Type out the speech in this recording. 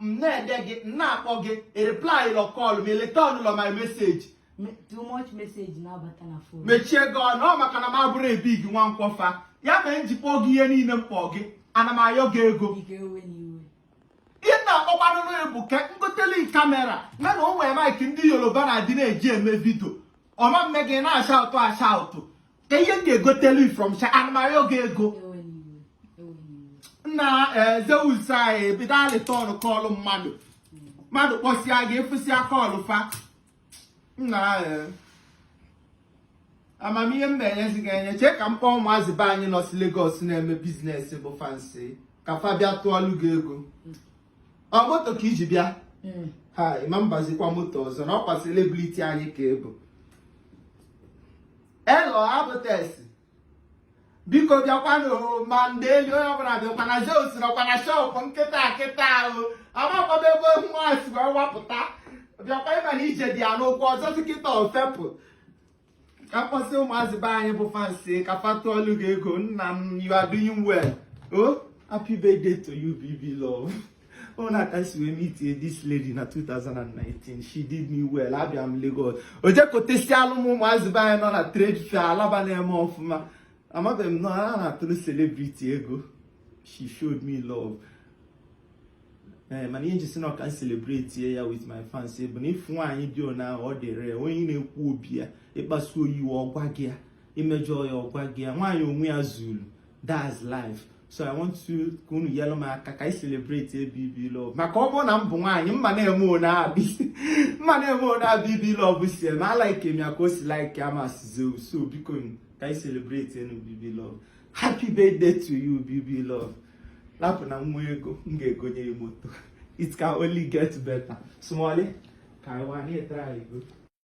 m na-ede gị m na-akpọ gị reply lọ call m return lọ my message Me- too much message na-abata na fon mechie gị ọnụ ọ maka na m abụrọ ebi gị Nwankwọ fa ya mere m ji kpọọ gị ihe niile m kpọọ gị ana m ayọ gị ego ike ewe na iwe ihe m na-akpọkwanụrụ ya bụ ka m gotelu kamera na na o nwere maịkị ndị Yoruba na-adị na-eji eme vidio ọ ma na-eme gị na-ashaụtụ ashaụtụ ka ihe m ga-egotelu from sha ana m ayọ gị ego nna eh, Zeus anyị ebido alịtọnụ kọlụ mmadụ mmadụ kpọsịa gị ị fụsịa kọlụ fa nna eh, amamihe m na-enyezi gị enye chee ka m kpọọ ụmụazị be anyị nọsị Lagos na-eme biznes bụ fansi ka fa bịa tụọlụ gị ego ọ moto ka i ji bịa hmm. ha ị ma abazikwa moto ọzọ na ọkwa selebriti anyị ka ị bụ hello Abutex biko bịakwanụ ma ndị elu onye ọbụla bịakwa na Zeus nọkwa na shọpụ kịta kịta a amakwaba ebe nwa a si wee wapụta bịakwa ị ma na ije dị ya n'ụkwụ ọzọ dị kịta o fepụ ka m kpọsị ụmụazị be anyị bụ fansi ka fa tụọlụ gị ego nna m you are doing well o oh, happy birthday to you BB love ona ka m si wee meet this lady na 2019 she did me well abịa m Lagos o jekọtesịalụ m ụmụazị be anyị nọ na trade fair alaba na-eme ọfụma amabeghị m na a na-atụrụ celebrity ego she showed me love ee eh, mana ihe m ji sị na ọ ka m celebrate ya with my fans bụ na ịfụ nwaanyị dị ona ahụ ọ dị rare onye na-ekwu obi ya ị kpasu ya iwe ọ gwa gị ya i mejọọ ya ọ gwa gị ya nwaanyị onwe ya zulu that's life so I want to ka unu yelụ m aka ka anyị celebrate BB Love maka ọ bụrụ na m bụ nwaanyị m ma na-eme ona BB m ma na-eme ona BB Love si eme alaike m ya ka o si like Mazị Zeus so biko ka anyị celebrate BB Love happy birthday to you bb love lapụ na nwa ego m ga-egonye ya moto it can only get better small ka anyị wanye try go